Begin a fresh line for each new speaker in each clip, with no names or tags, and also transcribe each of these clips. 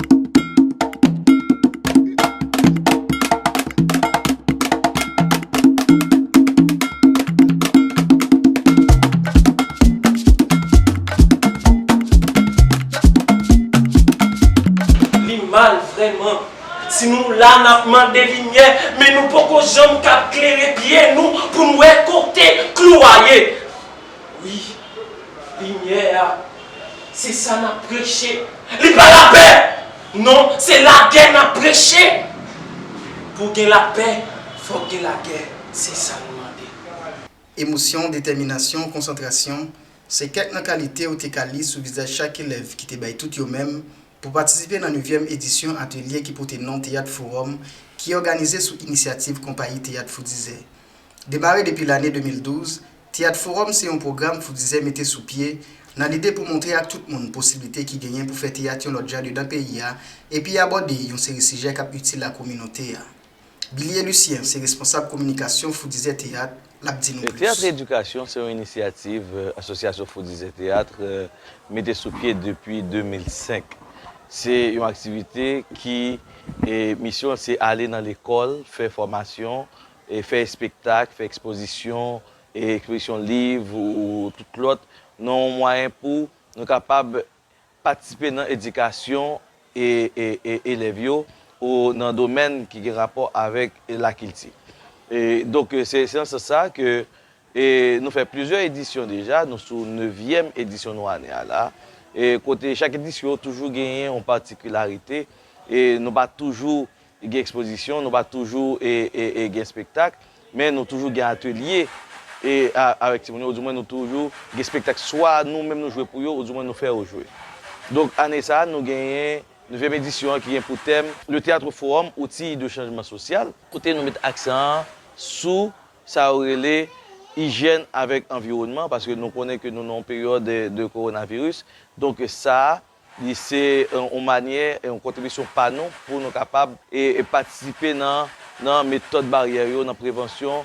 Li mal vrèman. Si nou la nap mande limyè men nou poko janm kap klere pye nou poun wè kote klou a ye. Wi. Limyè a. Se sa n ap preche. Li pa lapè! Non, se lagè n ap preche! Pou gen lapè, fòk gen lagè. Se sa nou mande. Emosyon,
detèminasyon, konsantrasyon, se kèk nan kalite ou te ka li sou vizaj chak elèv ki te bay tout yo menm pou patisipe nan nevyèm edisyon atelye ki pote non Teyat Fowòm ki òganize sou inisyativ Konpayi Teyat Foudizè. Demare depi lane 2012, Teyat Fowòm se yon pwogram Foudizè mete sou pye nan lide pou montre ak tout moun posiblite ki genyen pou fè teyat yon lòt jan dedan peyi a epi abòde yon seri sijè k ap itil a kominote a. Bilie Lucien se responsab kominikasyon Foudizè Teyat, l ap di nou plis. Teyatre
Edikasyon se yon inisyativ Asosyasyon Foudizè Teyat mete sou pye depi 2005. Se yon aktivite ki misyon l se ale nan lekòl fè fòmasyon fè espektak, fè ekspozisyon, ekspozisyon liv ou tout lòt, nan yon mwayen pou nou kapab patisipe nan edikasyon elèv yo ou nan domèn ki gen rapò avèk lakilti. Donk, se nan sans sa ke nou fè plizyè edisyon deja, nou sou nevyèm edisyon nou ane a la, kote chak edisyon toujou genyen yon patikilarite, nou pa toujou Gen ekspozisyon, nou pa toujou gen spektak, men nou toujou gen atelye avèk timoun yo, ou di mwen nou toujou gen spektak swa nou menm nou jwe pou yo, ou di mwen nou fè yo jwe. Donk ane sa a nou genyen nevyèm edisyon an ki gen pou tèm, Le Théâtre Forum, Outil de changement social, kote nou met aksan an sou sa yo rele ijyèn avèk anviwònman, paske nou konnen ke nou nan yon peryòd de kowonaviris, donk sa a Li se yon manyè, yon kontribisyon pa nou pou nou kapab patisipe nan metòd baryè yo, nan prevansyon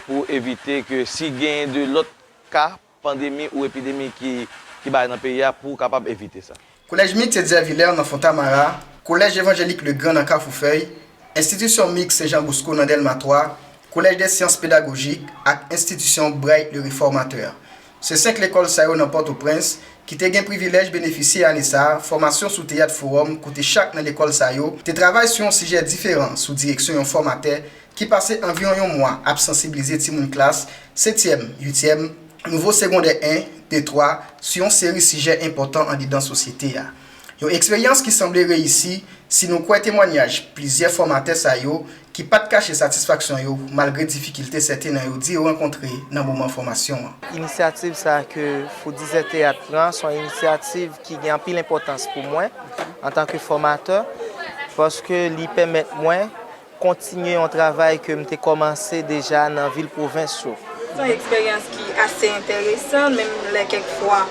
pou evite ke si genyen de lòt ka pandemi ou epidemi ki bay nan peyi a pou kapab evite sa. Kolèj Miks Etzer
Vilaire nan Fontamara, Kolèj Evanjelik Le Grand nan Kafoufèy, Enstitisyon Miks Sen Jan Bosko nan Dèlma 3, Collège des Sciences Pédagogiques ak Enstitisyon Bright le Réformateur. Se 5 lekòl sa yo nan Pòtoprens ki te gen privilèj benefisye ane sa a fòmasyon sou teyat fowòm kote chak nan lekòl sa yo te travay sou yon sijè diferan sou direksyon yon fòmatè ki pase anviwon yon mwa ap sansiblize timoun klas setyèm, uityèm, nouvo segondè 1, 2, 3 sou yon seri sijè enpòtan andedan sosyete a. Yon eksperyans ki sanble reyisi si nou kwè temwanyaj plizyè fòmatè sa yo ki pat kache satisfaksyon yo malgre difikilte sèten nan yo di yo rankontre nan moman fòmasyon an. Inisyativ sa
a ke Fou Dizè Teyat pran son inisyativ ki gen anpil enpòtans pou mwen antanke fòmatè paske li pèmèt mwen Kontinye yon travay ke m te kòmanse deja nan vil pwovens yo. Se yon eksperyans
ki ase enteresan, menm lè kèk fwa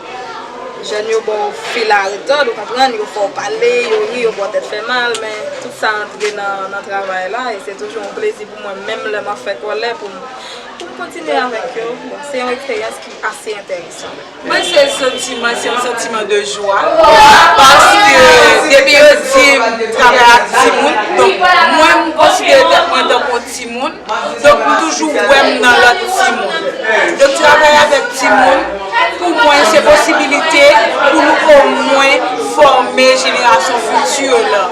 jèn yo ba w fil a retòd, ou konprann, yo fè w pale, yo ri, yo ba w tèt fè mal, men tout sa antre nan travay la e se toujou yon plezi pou mwen menm lè m ap fè kòlè pou m kontinye avèk yo. Bon, se yon eksperyans ki ase enteresan. Mwen se
santiman se yon santiman de jwa paske depi yo dim travay ak timoun donk mwen m konsidere tèt mwen tankou yon timoun donk m toujou wè m nan lòt timoun donk travay avèk timoun pou mwen se posibilite pou nou omwen fòme jenerasyon fiti yo lan.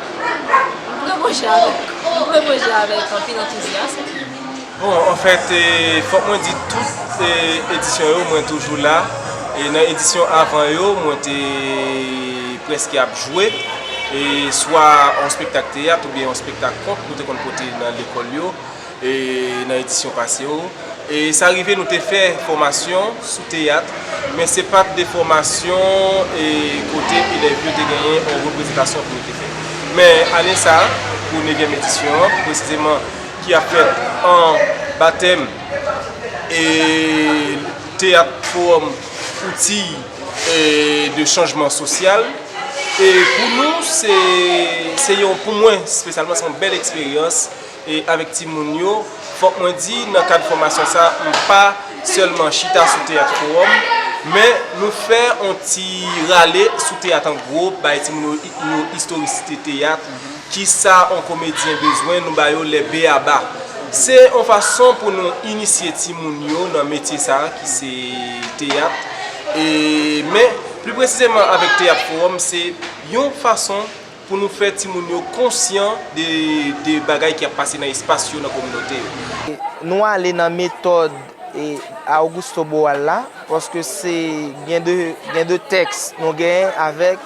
Mwen reponje avèk, mwen reponje avèk anpil
antouzyasm. Bon an fèt fòk mwen di tout edisyon yo mwen toujou la e nan edisyon avan yo mwen te prèske ap jwe swa yon spektak teyat oubyen yon spektak kont nou te konn pote nan lekòl yo. E nan edisyon pase yo, e sa rive nou te fè fòmasyon sou teyat, men se pa t de fòmasyon e kote elèv yo te genyen yon reprezantasyon pou yo te fè. Men ane sa a, pou nevyèm edisyon an, pi presizeman ki ap fèt an batèm e teyat fowòm Outils de changement social, e pou nou se yon, pou mwen spesyalman, se yon bèl eksperyans. avèk timoun yo, fòk mwen di nan kad fòmasyon sa a, m pa sèlman chita sou teyat kowòm, men nou fè yon ti rale sou teyat an gwo, bay timoun yo istorisite teyat, ki sa yon komedyen bezwen, nou ba yo lè be a ba. Se yon fason pou nou inisye timoun yo nan metye sa a ki se teyat, men pli presizeman avèk teyat kowòm se yon fason. Pou nou fè timoun yo konsyan de bagay ki ap pase nan espas yo, nan kominote yo. Nou
ale nan metòd Augusto Boal la, paske se gen de tèks nou gen avèk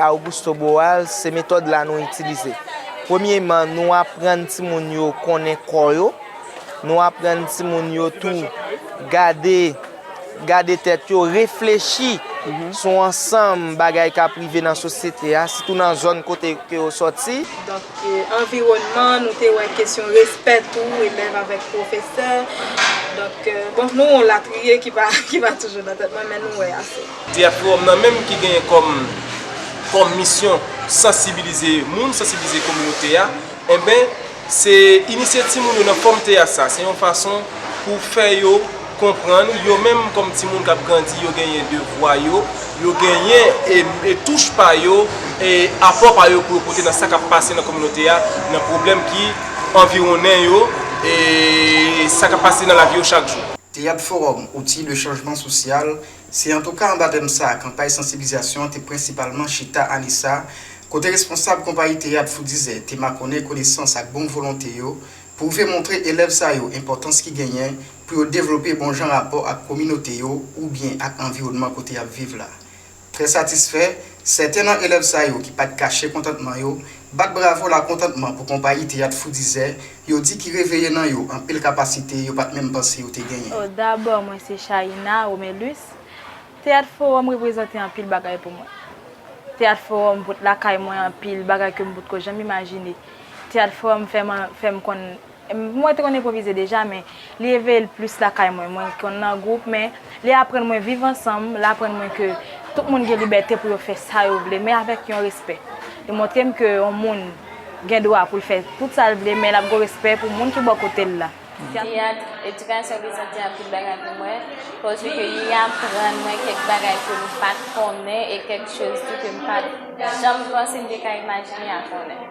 Augusto Boal, se metòd la nou itilize. Premyeman, nou aprann timoun yo konnen kò yo, nou aprann timoun yo tou gade. gade tèt yo, reflechi sou ansanm bagay k ap rive nan sosyete a, sitou nan zòn kote ke yo sòti. Donk,
anviwònman, nou te wè kesyon respè tou, elèv avèk pwofesè. Donk, bon, nou wè yon latriye ki pa toujou nan tèt mwen, men nou wè ase. Theatroom nan menm
ki genyen kòm misyon sansibilize moun, sansibilize kominote a. Enben, se inisye timoun yo nan fòm teyat sa, se yon fason pou fè yo konprann, yo menm kòm timoun k ap grandi, yo genyen devwa yo, yo genyen touch pa yo, apò pa yo pou yo pote nan sa k ap pase nan kominote a, nan pwoblèm ki anviwonnen yo, sa k ap pase nan lavi yo chak jou. Teyat Fowòm,
Outi de chanjman sosyal, Se antouka anba tèm sa a kanpay sansiblizasyon an te prensipalman chita ane sa a, kote responsab konpayi teyat Fou Dizè te makònen konesans ak bon volonte yo pou rive montre elèv sa yo enpòtans ki genyen pou yo devlope bon jan rapò ak kominote yo oubyen ak anviwònman kote y ap viv la. Trè satisfè, sèten nan elèv sa yo ki pa t kache kontantman yo, bat bravo lakontantman pou konpayi teyat Fou Dizè Yo di ki reveye nan yo anpil kapasite yo pat menm panse yo te genyen. Oh dabò mwen se
Chaïna Romelus, Teyat Fowòm reprezante anpil bagay pou mwen. Teyat Fowòm pot lakay mwen anpil bagay ke m pot ko janm imajine. Teyat Fowòm fè m fè m konn, mwen te konn enpwovize deja men, Li eveye l plis lakay mwen. Mwen konn nan gwoup men li aprann mwen viv ansanm, l aprann mwen ke tout moun gen libète pou yo fè sa yo vle men avèk yon respè. Li montre m ke yon moun gen dwa pou l fè tout sa l vle men l ap gen yon respè pou moun ki bò kote l la. Teyat,
edikasyon ki santi anpil bagay pou mwen, koze ke li aprann mwen kèk bagay ke m pa t konnen e kèk choz tou ke m pa t janm panse m te ka imajine a konnen.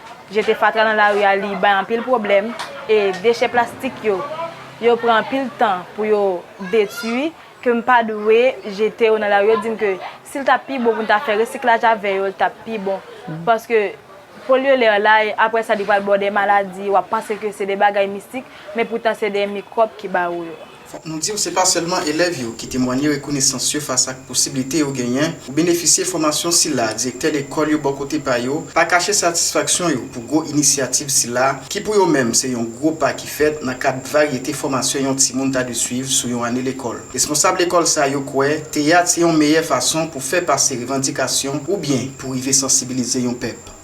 Jete fatra nan lari a li bay anpil pwoblèm e dechè plastik yo, yo pran anpil tan pou yo detui ke m pa dwe jete yo nan lari. Yo di m ke si l t ap pi bon pou n ta fè resiklaj avè yo, l t ap pi bon. Paske polye lè la e apre sa li pral ba w de maladi, w ap panse ke se de bagay mistik men poutan se de mikwòb ki ba ou yo. Fòk nou di w se pa
sèlman elèv yo ki temwanye rekonesans yo fas ak posiblite yo genyen pou benefisye fòmasyon sila a direktè lekòl yo bò kote pa yo pa kache satisfaksyon yo pou gwo inisyativ sila a ki pou yo menm se yon gwo pa ki fèt nan kad varyete fòmasyon yon timoun ta dwe swiv sou yon ane lekòl. Responsab lekòl sa yo kwè teyat se yon meyè fason pou fè pase revandikasyon oubyen pou rive sansibilize yon pèp.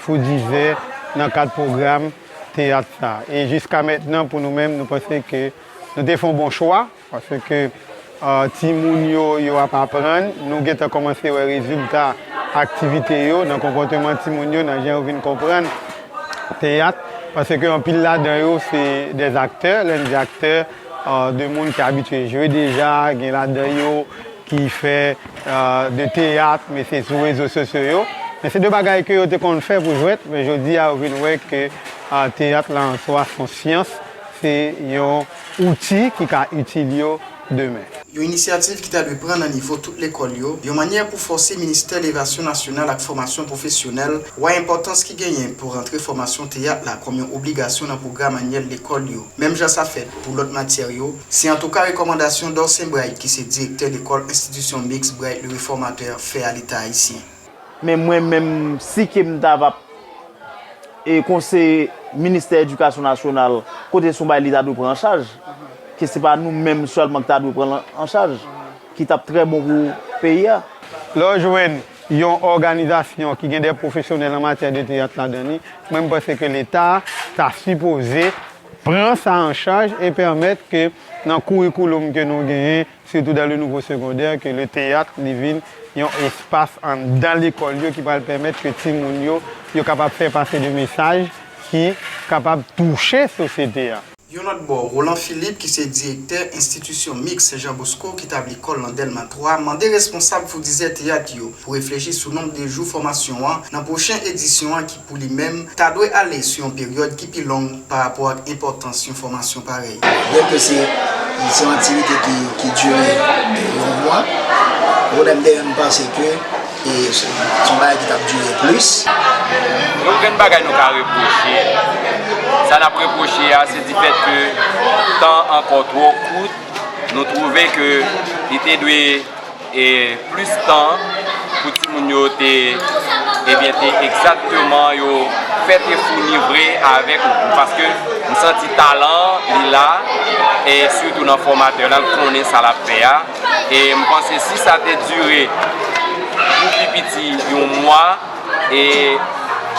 Fou Dizè nan kad pwogram teyat sa. E jiska mentnan pou nou menm nou panse ke nou te fon bon chwa paske ti moun yo yo ap aprann, nou gentan kòmanse wè rezilta aktivite yo nan konpòteman ti moun yo nan jan yo vin konprann teyat paske anpil ladan yo se dè aktè, lè n di aktè de moun ki abitye jwe deja gen ladan yo ki fè de teyat men se sou rezo sosyo yo men se de bagay ke yo te konn fè pou jwèt men jodi a yo vin wè ke teyat la an swa son syans se yon outi ki ka itil yo demen. Yon inisyativ
ki ta dwe pran nan nivo tout lekòl yo yon mannyè pou fòse ministè levasyon nasyonal ak fòmasyon pwofesyonèl wè enpòtans ki genyen pou rantre fòmasyon teyat la kòm yon obligasyon nan pwogram anyèl lekòl yo menm jan sa fèt pou lòt matyè yo Se antouka rekòmandasyon Dorcin Bright ki se direktè lekòl enstitisyon miks Bright le Reformateur fè a leta ayisyen. Men mwen
menm si ke m ta va e konseye ministè edikasyon nasyonal kote son bagay li ta dwe pran an chaj, ke se pa nou menm sèlman ki ta dwe pran l an chaj, ki t ap trè bon pou peyi a. Lè w jwenn
yon òganizasyon ki gen dè pwofesyonèl an matyè de teyat ladan li, mwen m panse ke leta ta sipoze. pran sa an chaj e pèmèt ke nan kourikouloum ke nou genyen, sitou dan le nouvo segondè, ke le teyat li vin yon espas anndan lekòl yo ki pral pèmèt ke timoun yo, yo kapab fè pase de mesaj ki kapab touche sosyete a. Yon lòt bò,
Roland Philippe ki se direktè enstitisyon miks Sen Jan Bosko ki tabli kò l nan Dèlma 3, mande responsab foudizè teyat yo pou reflechi sou nonb de jou fòmasyon an nan pwochen edisyon an ki. pou li menm, ta dwe ale sou yon peryòd ki pi long parapò ak enpòtans yon fòmasyon parèy. Byenke se
yon aktivite ki dire yon mwa, Roden Behan panse ke se yon bagay ki t ap dire plis. Gen
okenn bagay nou ka repwoche l. Sa n ap repwoche a se difèt ke tan ankò twò kout, nou twouve ke li te dwe. E plis tan pou timoun yo te ebyen te egzakteman yo fèt e founi vre avèk ou pou paske m santi talan li la e sitou nan fòmatè la l konnen sa l ap fè a e m panse si sa te dire pou pi piti yon mwa e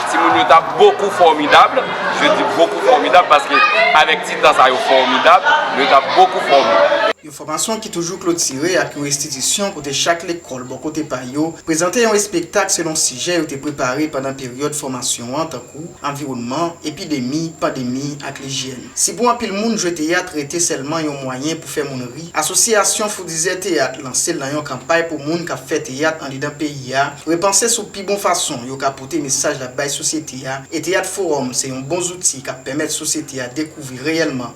timoun yo t ap bokou fòmidab je di bokou fòmidab paske avèk ti tan sa yo fòmidab yo t ap bokou fòmidab. Fòmasyon ki
toujou klotire ak yon restitisyon kote chak lekòl bò kote pa yo prezante yon espektak selon sijè yo te prepare pandan peryòd fòmasyon an tankou, anviwònman, epidemi, pandemi, ak lijyèn. Si pou anpil moun jwe teyat rete sèlman yon mwayen pou fè moun ri, Asosyasyon Foudizè Teyat lanse l nan yon kanpay pou moun k ap fè teyat andedan peyi a repanse sou pi bon fason yo ka pote mesaj l ap bay sosyete a e Teyat Fowòm se yon bon zouti k ap pèmèt sosyete a dekouvri reyèlman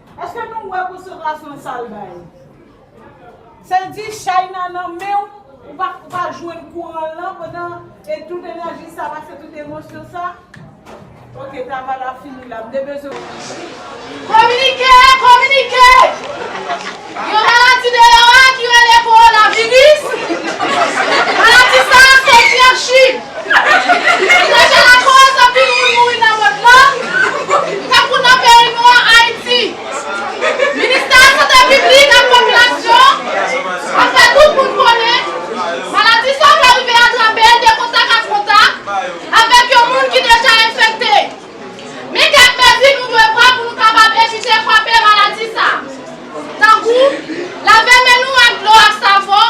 Eske nou wè konsantrasyon sal bay. Sa di china nan menw ou pa ou pa jwenn kouran lan pandan e tout enèji sa pase tout emosyon sa ok travay la fini la m te bezwen w di. Kominike!
Kominike! Yon maladi deyò a ki rele kowona viris, maladi sa a soti an Chine. Deja lakòz anpil moun mouri nan mond lan, tankou nan peyi nou an Ayiti. Ministè a Sante Piblik ak Popilasyon an fè tout moun konnen maladi sa a ka rive atrape de kontak ak kontak avèk yon moun ki deja enfekte. Men kèk mezi nou dwe pran pou nou kapab evite kwape maladi sa a, tankou lave men nou ak dlo ak savon,